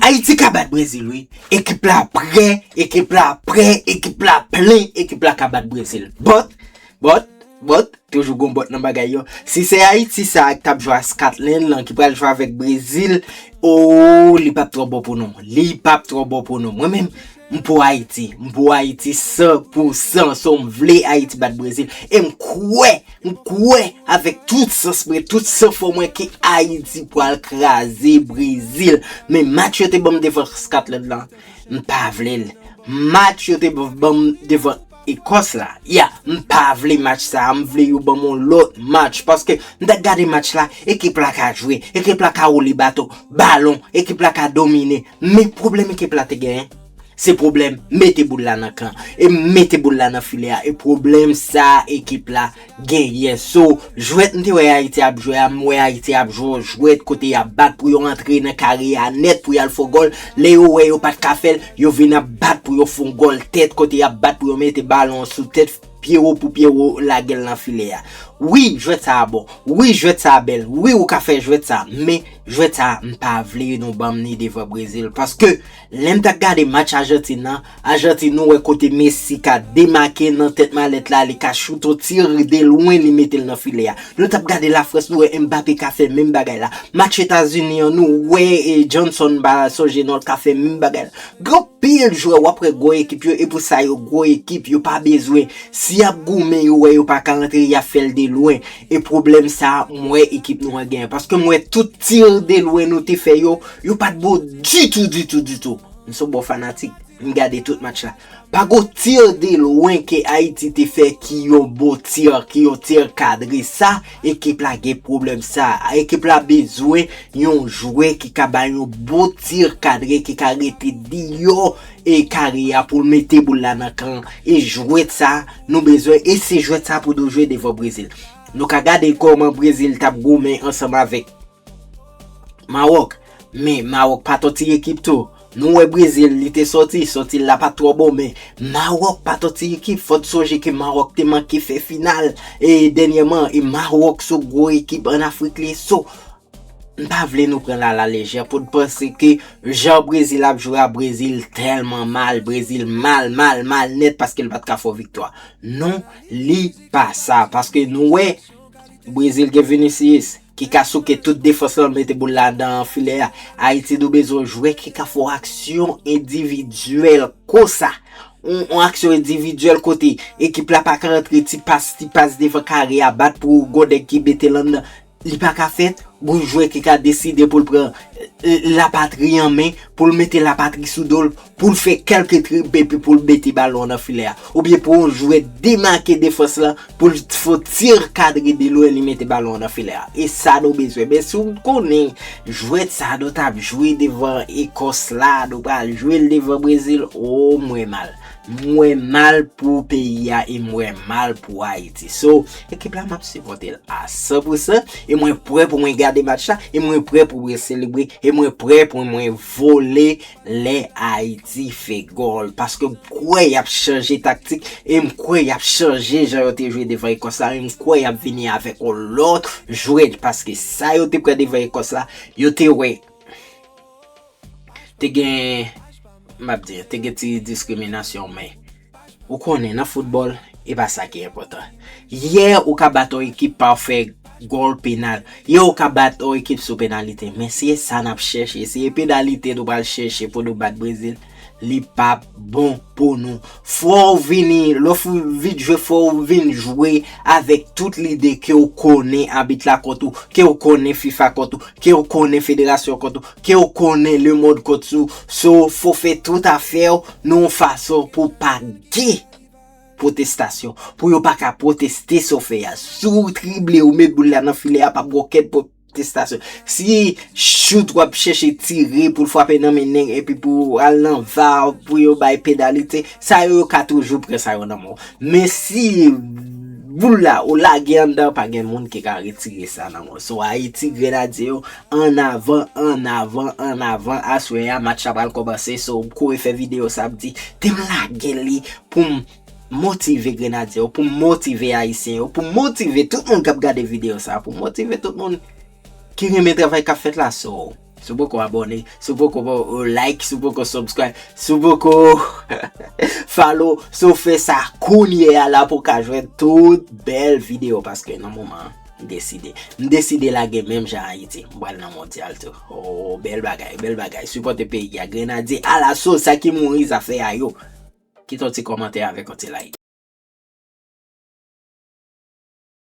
Ayiti ka bat brezil wi ekip la prè ekip la prè ekip la plen ekip la ka bat brezil bòt bòt bòt toujou gon bòt nan bagay yo si se ayiti sa ak tap jwa skatlen lan ki pral jwa vèk brezil ooh li pap trò bon pou nou li pap trò bon pou nou mwen menm M pou Ayiti, m pou Ayiti san pou san, so m vle Ayiti bat Brezil, e m kwè, m kwè avèk tout sans mwen, tout san fò mwen ke Ayiti pwal kraze Brezil, men match yo te banm devan Scotland lan, m pa vle l, match yo te banm devan. Ecosse la ya mpa vle match sa m vle yo banm yon lòt match paske m ta gade match la ekip la ka jwe ekip la ka woule bato balon ekip la ka domine men pwoblèm ekip la te genyen se pwoblèm mete boul la nan kan e mete boul la nan filè a e pwoblèm sa ekip la genyen so jwèt m te wè ayiti ap jwe a m wè ayiti ap jwe yon jwèt kote yap bat pou yo antre nan kare a nèt pou yal fò gòl lè yo wè yo pat ka fèl yo vin ap bat pou yo fon gòl tèt kote yap bat pou yo mete balon an sou tèt pyewo pou pyewo lagel nan filè a wi jwèt sa a bon wi jwèt sa a bèl wi ou ka fè jwèt sa a men jwèt sa a m pa vle nou banm ni devan brezil paske Lè m t ap gade match Ajantin nan, Ajantin ou wè kote Messi ka demake nan tèt malèt la, li ka choute yon tir de lwen li mete l nan filè a. Nou t ap gade Lafrans nou wè Mbappé ka fè menm bagay la. Match Etazini an nou wè Johnson m pa sonje non l ka fè menm bagay la. Gen anpil jwè w ap wè gwo ekip yo e pou sa yo gwo ekip yo pa bezwen si y ap goumen yo wè yo pa ka antre y ap fè l de lwen e pwoblèm sa m wè ekip nou an genyen paske m wè tout tir de lwen nou te fè yo Yo pat bon ditou ditou ditou. M son bon fanatik. M gade tout match la. Pa gon tir de lwen ke Ayiti te fè ki yon bon tir, ki yon tir kadre. Sa ekip la gen pwoblèm sa. Ekip la bezwen yon jwè ki ka bay yon bon tir kadre ki ka rete deyò e kare a pou l mete boul la nan kan. E jwèt sa nou bezwen e se jwèt sa pou nou jwe devan Brezil. Nou ka gade kòman Brezil tap goumen ansanm avèk. Maroc men Maroc pa tòti ekip tou nou wè Brésil li te sòti sòti l la pat twò bon men Maroc pa tòti ekip fò n sonje ke Maroc te manke fè final e dènyèman e Maroc s on gwo ekip an Afrik li so m pa vle nou pran l a la lejè pou n panse ke jan Brésil ap jwe a Brésil tèlman mal Brésil mal mal mal nèt paske l pat ka fè w viktwa non li pa sa paske nou wè Brésil gen Vinicius. Ki ka souke tout defans lan mete boul la nan filè a. Ayiti nou bezwen jwè ki ka fè yon aksyon endividyèl konsa. Yon aksyon endividyèl kote ekip la pa ka antre ti pas, ti pas devan kare a bat pou gon nèg ki mete l anndan. Li pa ka fèt, gon jwè ki ka deside pou l pran lapatri an men, pou l mete lapatri sou do l. pou l fè kèlke trib epi pou l mete balon nan filè a, oubyen pou yon jwè demake defans lan pou l fè yon tir kadre de lwen li mete balon nan filè a. E sa nou bezwen. Men si w konnen jwèt sa nou t ap jwe devan Ekòs la, nou pral jwe l devan Brezil, oo m wè mal. M wè mal pou peyi a e m wè mal pou Ayiti. So, ekip la m ap sipòte l a san pou san e mwen prè pou mwen gade match la e mwen prè pou mwen selebre e mwen prè pou mwen vole. Lè Ayiti fè gòl, paske m kwè y ap chanje taktik e m kwè y ap chanje jan yo te jwe devan Ekòs la e m kwè y ap vini avèk yon lòt jwè paske sa yo te pran devan Ekòs la, yo te wè te gen, m ap di, te gen ti diskriminasyon men. Ou konnen nan foutbòl, e pa sa ki enpòtan. Yè ou ka bat yon ekip pa w fè gòl penal. Yè ou ka bat yon ekip sou penalite. Men se sa n ap chèche. Se penalite nou pral chèche pou nou bat Brezil. Li pa p bon pou nou. Fò w vini, lè w vin jwe fò w vin jwe avèk tout lide ke w konnen abit la kont ou, ke w konnen fifa kont ou, ke w konnen federasyon kont ou, Kew konnen le mond kont sou so fo fe tout afew nan yon fason pou pa gen protestation pou yo pa ka proteste so fe a si w trible ou met boul la nan filè a pap gen okenn protestation si shoot wap cheche tire pou l fwape nan men neg epi pou w al nan var pou yo bay penalite sa yo yo ka toujou pran sa yo nan men w men si boul la ou lage anndan pa gen moun ki ka retire sa nan men w so ayiti grenadye yo An avan an avan an avan aswè ya match la pral kòmanse so m kouri fè video sa m di te m lage li pou m motive grenadye yo pou m motive ayisyen yo pou m motive tout moun kap gade video sa pou m motive tout moun ki renmen travay kap fèt la so si w poko abòne si w poko like si w poko subscribe si w poko follow so fè sa kounye ya la pou w ka jwenn tout bèl video paske nan moman an. M deside. M deside lage menm jan Ayiti. M pral nan mondyal tou. Oo bèl bagay, bèl bagay. Sipòte peyi a. Grenadye alaso sa ki mouri zafè a yo. Kite yon ti kòmantè avèk yon ti like.